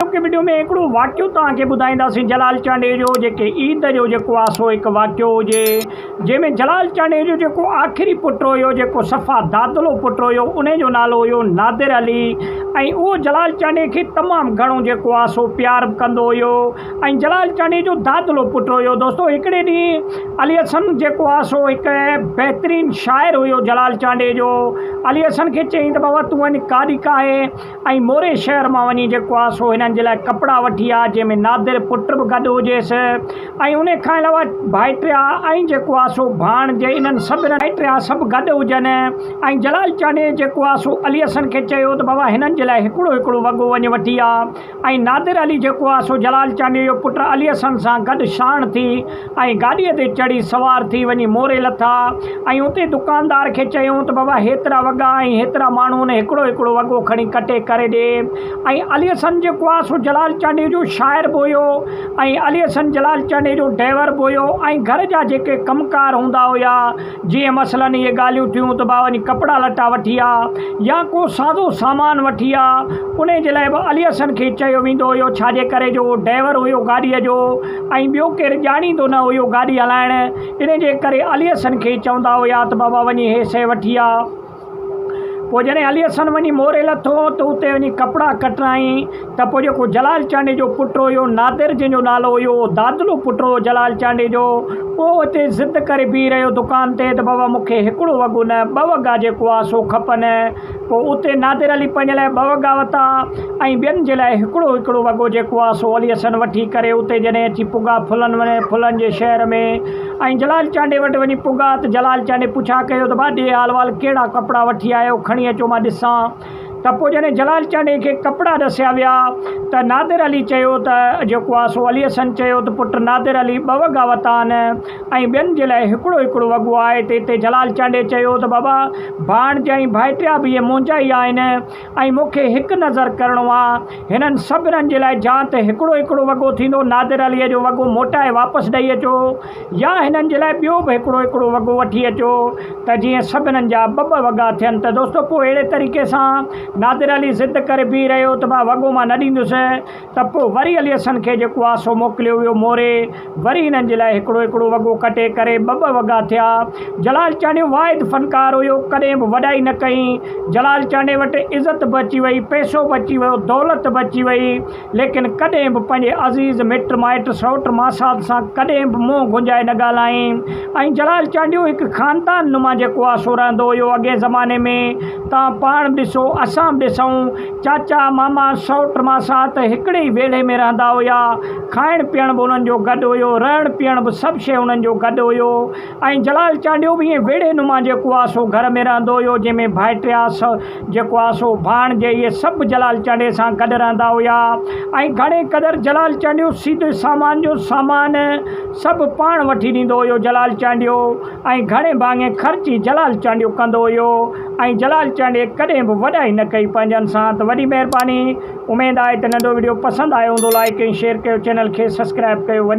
اڄوڪي وڊيو ۾ هڪڙو واقعو توهان کي ٻڌائينداسين جلال چانڊيو جو جيڪي عيد جو جيڪو آ سو هڪ واقعو هجي جنهن ۾ جلال چانڊيو جو جيڪو آخري پٽ هيو جيڪو صفا دادلو پٽ هيو ان جو نالو هيو نادر علي ۽ اهو جلال چانڊيو کي تمام گهڻو جيڪو آ سو پيار به ڪندو هيو ۽ جلال چانڊيو جو دادلو پٽ هيو دوستو هڪڙي ڏينهن علي حسن جيڪو آ سو هڪ بهترين شاعر هيو جلال چانڊيو جو علي حسن کي چيائين ته بابا تون وڃ ڪاڏي ڪاهي ۽ موري شهر مان وڃي جيڪو آ سو هنن جي لاء ڪپڙا وٺي آ، جنهن ۾ نادر پٽ به گڏ هجيس ۽ انهي کان علاوه ڀائٽيا ۽ جيڪو آ سو ڀاڻج انهن سڀنن ڀائٽيا سڀ گڏ هجن ۽ جلال چانڊيي جيڪو آ سو علي حسن کي چيو ته بابا هنن جي لاء هڪڙو هڪڙو وڳو وڃ وٺي آ ۽ نادر علي جيڪو آ سو جلال چانڊيي جو پٽ علي حسن سان گڏ شاڻ ٿي ۽ گاڏيء تي چڙهي سوار ٿي وڃي موري لٿا ۽ اتي دڪاندار کي چيائون ته بابا هيترا وڳا ۽ هيترا ماڻهو ۽ هڪڙو هڪڙو وڳو کڻي ڪٽي ڪري ڏي ۽ علي حسن جيڪو آهي سو جلال چانڊيو جو شاعر به هيو ۽ علي حسن جلال چانڊيو جو ڊئور به هيو ۽ گهر جا جيڪي ڪم ڪار هوندا هيا جيئن مثلاً اهي ڳالهيون ٿيون ته بابا وڃي ڪپڙا لٽا وٺي آ يا ڪو سازو سامان وٺي آ انهي جي لاء به علي حسن کي چيو ويندو هيو ڇاجي ڪري جو هو ڊئور هيو گاڏيء جو ۽ ٻيو ڪير ڄاڻيندو نه هيو گاڏي هلائڻ، ان جي ڪري علي حسن کي چوندا هيا ته بابا وڃي هي شيء وٺي آ. پوء جڏهن علي حسن وڃي موري لٿو ته اتي وڃي ڪپڙا ڪٽرايائين ته پوء جيڪو جلال چانڊيي جو پٽ هيو نادر جنهن جو نالو هيو اهو دادلو پٽ هيو جلال چانڊيي جو اهو اتي ضد ڪري بيهي رهيو دڪان تي ته بابا مون کي هڪڙو وڳو نه ٻه وڳا جيڪو آ سو کپن. پوء اتي نادر علي پنهنجي لاء ٻه وڳا وتا ۽ ٻين جي لاء هڪڙو هڪڙو وڳو جيڪو آ سو علي حسن وٺي ڪري اتي جڏهن اچي پڳا ڦلن وڃي ڦلن جي شهر ۾ ۽ جلال چانڊئي وٽ وڃي پڳا ته جلال چانڊئي پڇا ڪيو ته ڀاڄي حال وال ڪهڙا ڪپڙا وٺي آيو کڻي اچو مان ڏسان ته پوء جڏهن جلال چانڊئي کي ڪپڙا ڏسيا ويا ته نادر علي چيو ته جيڪو آ سو علي حسن چيو ته پٽ نادر علي ٻه وڳا وتا آن ۽ ٻين جي لاء هڪڙو هڪڙو وڳو آهي ته اتي جلال چانڊيي چيو ته بابا ڀاڻجا ۽ ڀائٽيا به اهي منهنجا ئي آهن ۽ مون کي هڪ نظر ڪرڻو آ هنن سڀنن جي لاء جا ته هڪڙو هڪڙو وڳو ٿيندو نادر عليء جو وڳو موٽائي واپس ڏئي اچو يا هنن جي لاء ٻيو به هڪڙو هڪڙو وڳو وٺي اچو ته جيئن سڀنن جا ٻه ٻه وڳا ٿين ته دوستو پوء اهڙي طريقي سان نادر علي ضد ڪري بيهي رهيو ته مان وڳو مان نه ڏيندس ته پوء وري علي حسن کي جيڪو آ سو موڪليو ويو موري، وري هنن جي لاء هڪڙو هڪڙو وڳو ڪٽي ڪري ٻه ٻه وڳا ٿيا. جلال چانڊيو واحد فنڪار هيو، ڪڏهن به وڏائي نه ڪئي. جلال چانڊيي وٽ عزت به اچي وئي، پئسو به اچي ويو، دولت به اچي وئي، ليڪن ڪڏهن به پنهنجي عزيز مٽ مائٽ سئوٽ ماسات سان ڪڏهن به منهن گونجائي نه ڳالهائين ۽ جلال چانڊيو هڪ خاندان نما جيڪو آ سو رهندو هيو اڳئين زماني ۾ تهان پاڻ به ڏسو اسان به ڏسون چاچا، ماما، سئوٽ، ماسات هڪڙي ئي ويڙهي ۾ رهندا هيا. کائڻ پيئڻ به انهن جو گڏ هيو. رهڻ پيئڻ به سڀ شيء انهن جو گڏ هيو. ۽ جلال چانڊيو به ائين ويڙهي نما جيڪو آ سو گهر ۾ رهندو هيو، جنهن ۾ ڀائٽيا، سئو، جيڪو آ سو، ڀاڻجي اهي سڀ جلال چانڊيي سان گڏ رهندا هيا. ۽ گهڻي قدر جلال چانڊيو سيدي سامان جو سامان سڀ پاڻ وٺي ڏيندو هيو. جلال چانڊيو ۽ گهڻي ڀاڱي خرچ ئي جلال چانڊيو ڪندو هيو. ۽ جلال چانڊيي ڪڏهن به وڏائي نه ڪئي پنهنجن سان ته وڏي مهرباني اميد آهي ته ننڍو وڊيو پسند آيو هوندو لائيڪ ۽ شيئر ڪيو چينل کي سسڪرائب ڪيو وڏي